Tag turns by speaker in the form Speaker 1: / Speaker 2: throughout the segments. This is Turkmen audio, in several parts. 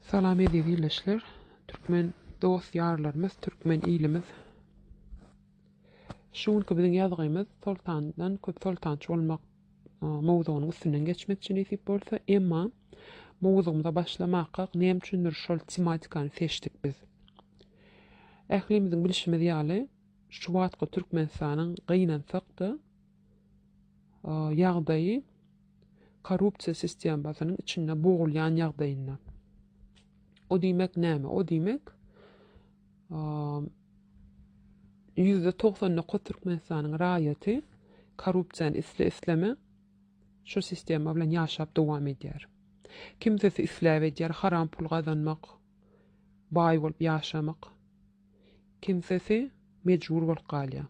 Speaker 1: Salam eziz ildeşler türkmen dost ýarlarymyz türkmen ilimiz Şu günki biziň ýazgymyz soltandan köp soltançy bolmak mowzugynyň üstünden geçmekçi nesip bolsa emma mowzugymyza başlamakak näme üçindir şol tematikany seçdik biz ählimiziň bilşimiz ýaly şu wagtky türkmenistanyň gynansak-da ýagdaýy korrupsiýa sistemasynyň içinde bogulýan ýagdaýynda. O diýmek näme? O diýmek ýüzde togsan dokuz Türkmenistanyň raýaty korrupsiýany isle-isleme şu sistema bilen ýaşap dowam edýär. Kimsesi isläp edýär haram pul gazanmak, baý bolup ýaşamak. Kimsesi mejbur bolup galýar.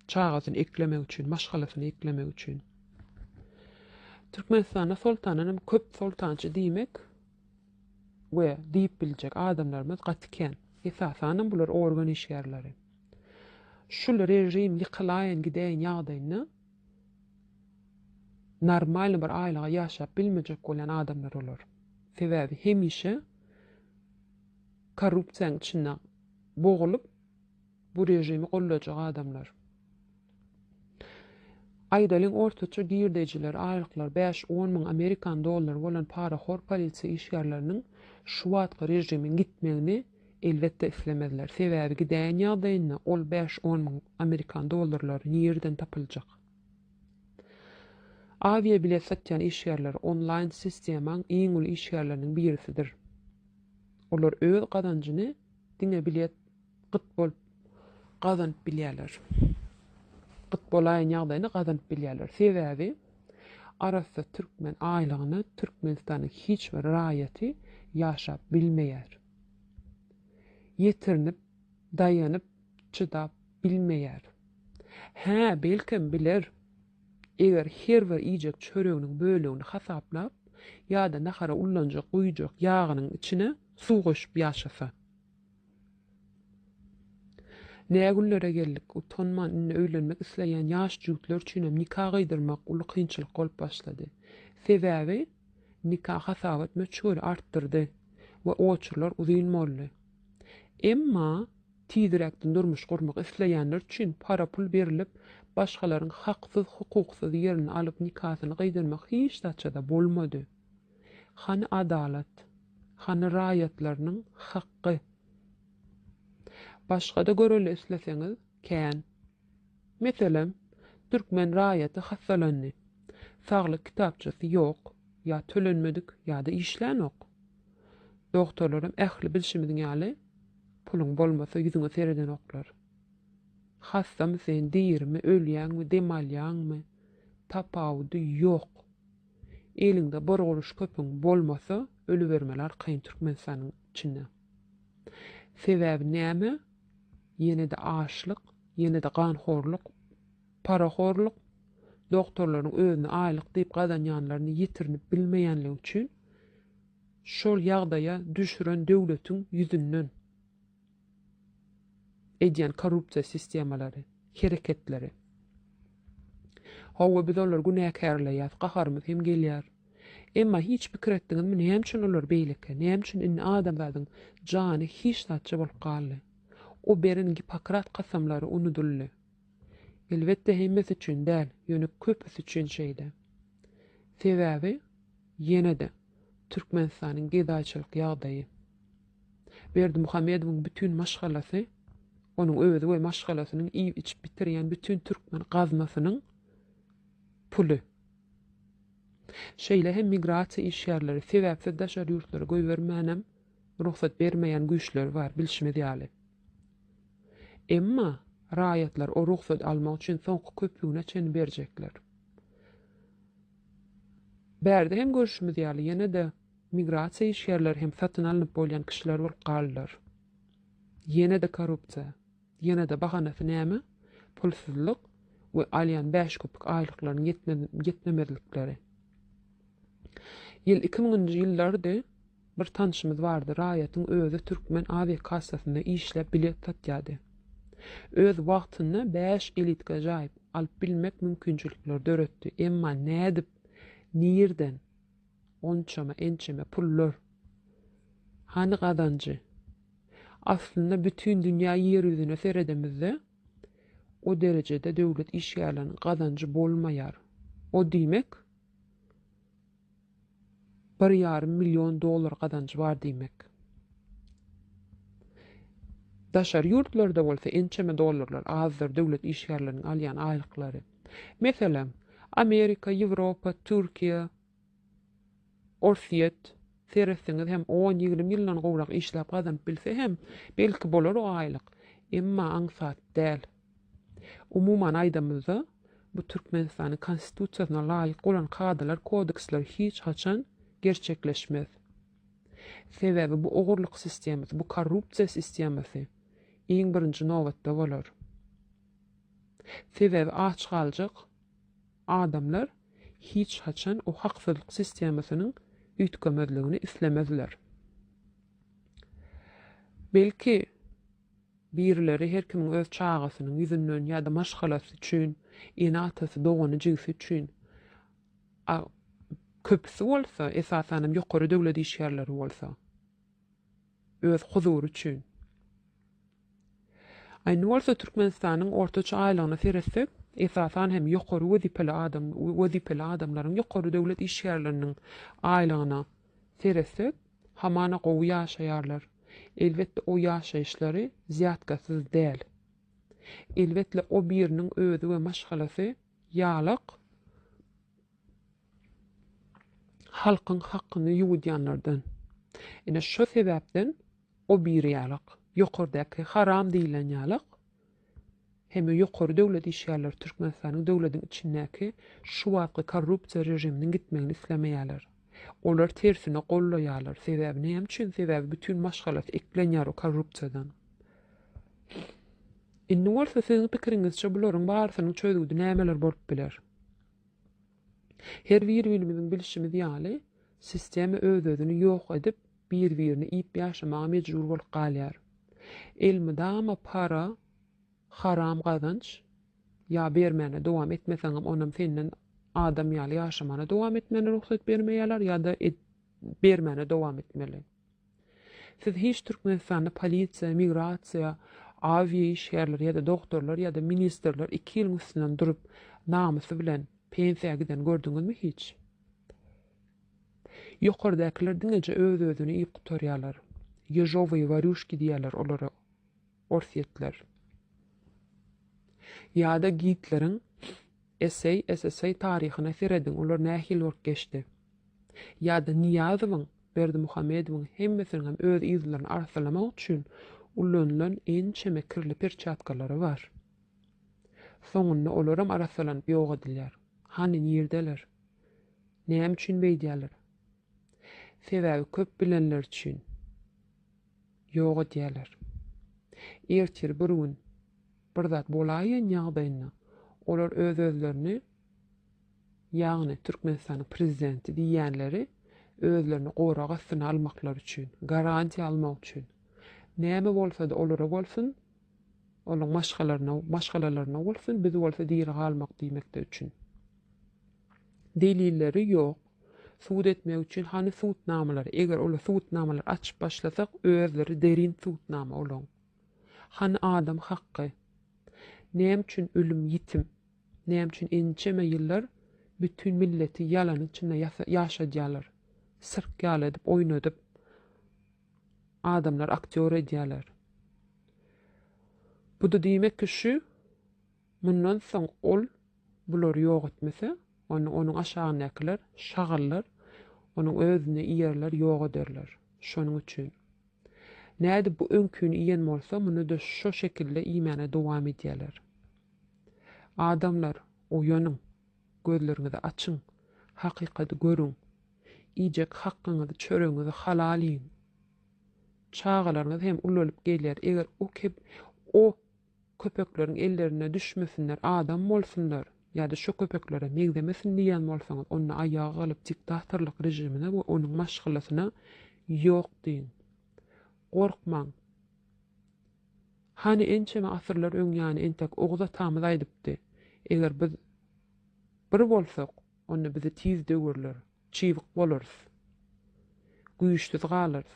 Speaker 1: Çagasyny eklemek üçin, maşgalasyny eklemek üçin. Türkmenistanda soltandan hem köp soltançy diýmek we diýip biljek adamlarymyz gaty kän. Esasanam bular organ işgärleri. Şul režim ýykylaýyn gidäýen ýagdaýynda normalny bir aýlyga ýaşap bilmejek bolýan adamlar olar. Sebäbi hemişe Korrupsiýaň içinde bogulyp bu režimi goldajak adamlar. Aýdalyň ortaça girdeýjileri aýlyklar bäş on müň amerikan dollary bolan parahor polisiýa işgärleriniň şu wagtky režimiň gitmegini elbetde islemezler. Sebäbi gidäýen ýagdaýynda ol bäş on müň amerikan dollarlary nireden tapyljak. Awiabilet satýan işgärler onlaýn sistemaň iň uly işgärleriniň birisidir. Olar öz gazanjyny diňe bilet gyt bolup gazanyp bilýärler. Gyt bolaýan ýagdaýynda gazanyp bilýärler. Sebäbi arassa türkmen aýlygyna Türkmenistanyň hiç bir raýaty ýaşap bilmeýär. Ýetirinip, daýanyp, çydap bilmeýär. Hä, belkem biler. Eger her bir iýjek çöreginiň bölegini hasaplap ýa-da nahara ullanjak guýjak ýagynyň içine suw goşup ýaşasa. Nä günlere geldik, utanman indi öýlenmek isleýän ýaş jübütler üçinem nika gyýdyrmak uly kynçylyk bolup başlady. Sebäbi nika hasabat möçberi artdyrdy we oçurlar uzyn boldy. Emma. Tizräkden durmuş gurmak isleýänler üçin para-pul berlip, başgalaryň haksyz-hukuksyz ýerini alyp nikasyny gyýdyrmak hiç zatça-da bolmady. Hany adalat? Hany raýatlarynyň hakgy? Başga-da göreli isleseňiz, kän. Meselem, türkmen raýaty hassalandy. Saglyk kitapçasy ýok, ýa tölenmedik, ýa-da işlänok. Dogtorlaram ähli bilşimiziň ýaly, Puluň bolmasa ýüzüňe seredenoklar. Hassamy sen, dirimi, ölýäňmi, dem alýaňmy, tapawudy ýok. Eliňde bir gurluş köpüň bolmasa, ölübermeli arkaýyn Türkmenistanyň içinde. Sebäbi näme? Ýene-de açlyk, ýene-de ganhorluk, parahorluk, doktorlaryň özüni aýlyk diýip gazanýanlaryny ýitirinip bilmeýänligi üçin, şol ýagdaýa düşüren döwletiň ýüzünden edýän korrupsiýa sistemalary, hereketleri. Hawa, biz olary günäkärleýäs, gaharymyz hem gelýär. Emma hiç pikir etdiňizmi, näme üçin olar beýlekä? Näme üçin indi adamzadyň jany hiç zatça bolup galdy? O beren Gippokrat kasamlary unudyldy. Elbetde, hemmesi üçin däl, ýöne köpüsi üçin şeýle. Sebäbi. Ýene-de, Türkmenistanyň gedaýçylyk ýagdaýy. Berdimuhamedowyň bütin maşgalasy, onuň özi we maşgalasynyň iýip-içip bitirýän bütin türkmen gaznasynyň puly. Şeýle hem migrasiýa işgärleri, sebäpsiz daşary ýurtlara goýbermänem rugsat bermeýän güýçleri bar, bilşimiz ýaly. Emma raýatlar o rugsady almak üçin soňky köpügine çenli berjekler. Bärde hem görşümiz ýaly, ýene-de migrasiýa işgärleri hem satyn alnyp bolýan kişiler bolup galdylar. Ýene-de korrupsiýa. Ýene-de bahanasy näme? Pulsuzlyk we alýan bäş köpük aýlyklaryň ýetmemezlikleri. Ýyl iki müňünji ýyllardy. Bir tanşymyz bardy, raýatyň özi türkmen awiakassasynda işläp bilet satýardy. Öz wagtynda bäş elitka jaýyp, alyp bilmek mümkinçilikleri döretdi, emma nädip, nirden onçama, ençeme pullar? Hany gazanjy? Aslynda bütin dünýä ýer ýüzüne seredemizde, o derejede döwlet işgärleriniň gazanjy bolmaýar. O diýmek. Bir ýarym million dollar gazanjy bar diýmek. Daşary ýurtlarda bolsa ençeme dollarlar azdyr döwlet işgärleriniň alýan aýlyklary. Meselem, Amerika, Ýewropa, Türkiýe, Orsýet, seretseňiz hem on-ýigrimi ýyldan gowrak işläp gazanyp bilse hem, belki bolar o aýlyk, emma aňsat däl. Umuman aýdamyzda, bu Türkmenistanyň Konstitusiýasyna laýyk bolan kadalar, kodeksler hiç haçan gerçekleşmez. Sebäbi bu ogurlyk sistemasy, bu korrupsiýa sistemasy iň birinji nobatda bolar. Sebäbi aç galjak adamlar hiç haçan o haksyzlyk sistemasynyň üýtgemezligini islemezler. Belki, Birileri her kimiň öz çagasynyň ýüzünden ýa-da maşgalasy üçin, ene-atasy, dogany-jigisi üçin, a köpüsi bolsa, esasanam ýokary döwlet işgärleri bolsa, öz huzury üçin. A indi bolsa Türkmenistanyň ortaça aýlygyna seretsek, esasan hem ýokary wezipeli adam, wezipeli adamlaryň, ýokary döwlet işgärleriniň aýlygyna seretsek, Hamana gowy ýaşaýarlar. Elbetde o ýaşaýyşlary zýatkasyz däl. Elbetde o biriniň özi we maşgalasy ýalak halkyň hakyny ýuwudýanlardan. Ine şo sebäpden o biri ýalak, ýokardaki haram diýilen ýalak. Hemme ýokary döwlet işgärleri Türkmenistanyň döwlediň içindäki şu wagtky korrupsiýa režiminiň gitmegini islemeýärler. Olar tersine gollaýarlar. Sebäbi näme üçin? Sebäbi bütin maşgalasy eklenýär o korrupsiýadan. Indi bolsa siziň pikiriňizçe bularyň barysynyň çözgüdi nämeler bolup biler? Her bir-birimiziň bilşimiz ýaly sistema öz-özüni ýok edip, bir-birini iýip ýaşamaga mejbur bolup galýar. Elmydama para, haram gazanç, ýa bermäne dowam etmeseňem onam senden adam ýaly ýaşamana dowam etmäne rugsat bermeýärler ýa-da bermäne dowam etmeli. Siz hiç Türkmenistanda polisiýa, migrasiýa, awiýa işgärleri ýa-da dogtorlar ýa-da ministrler iki ýylyň üstünden durup namysy bilen pensiýa giden gördüňizmi hiç? Ýokardakylar diňeje öz-özüni iýip gutarýalar. Ýežowyýe warýuşki diýýärler olara orsýetler. Ýa-da Gitleriň SSSR taryhyna serediň, olar nähili bolup geçdi. Ýa-da Nyýazowyň, Berdimuhamedowyň hemmesiniňem öz yzlaryny arsalamak üçin ulanylan ençeme kirli perçatkalary bar. Soňunda olaram arassalanyp ýok edilýär. Hany, nirdeler? Näme üçin beýdýärler? Sebäbi köp bilenler üçin. Ýok edýärler. Ertir bir gün bir zat bolaýýan ýagdaýynda olar öz-özlerini, ýagny Türkmenistanyň prezidenti diýýänleri özlerini gorag astyna almaklary üçin, garantiýa almak üçin, näme bolsa-da olara bolsun, Onuň maşgalaryna, maşgalalaryna bolsun, biz bolsa diri galmak diýmekde üçin. Delilleri ýok. Subut etmek üçin hany subutnamalary? Eger ola subutnamalary açyp başlasak, özleri derin subutnama olaň. Hany adam hakky? Näme üçin ölüm ýitim? Näme üçin ençeme ýyllar bütin milleti ýalanyň içinde ýasa, ýaşadýarlar? Sirk ýaly edip, oýnadyp, Adamlar aktýor edýäler. Bu-da diýmek ki şü, mundan soň ol bulary ýok etmese, onda onuň aşagyndakylar, şagyllar, onuň özüne iýerler, ýok ederler. Şonuň üçin. Nädip bu öňkini iýen bolsa, muny-da şo şekilde iýmäne dowam edýäler. Adamlar, oýanyň! Gözleriňizi açyň, hakykady görüň. Iýjek hakyňyzy, çöregiňizi halal iýiň. Çagalaryňyz hem ulalyp gelýär, eger o kep o köpekleriň ellerine düşmesinler, adam bolsunlar, ýa-da şo köpeklere megzemesin diýýän bolsaňyz, onda aýaga galyp diktatorlyk režimine we onuň maşgalasyna ýok diýiň. Gorkmaň. Hany ençeme asyrlar öň ýany entek Oguz atamyz aýdypdy, Eger biz bir bolsak, onda bizi tiz döwerler, çybyk bolarys. Güýçsiz galarys.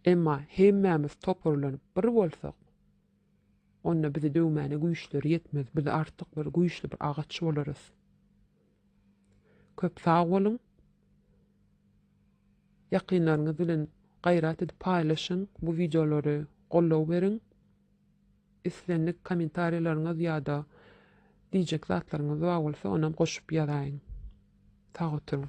Speaker 1: Emma hemmämiz toparlanyp bir bolsak, onda bizi döwmäne güýçleri ýetmez, biz artyk bir güýçli bir agaç bolarys. Köp sag boluň. Ýakynlaryňyz bilen gaýrat edip paýlaşyň bu wideolary, goldaw beriň. Islendik kommentariýalaryňyz ýa-da diýjek zatlaryňyz bar bolsa onam goşup ýazaýyň. Sag oturyň.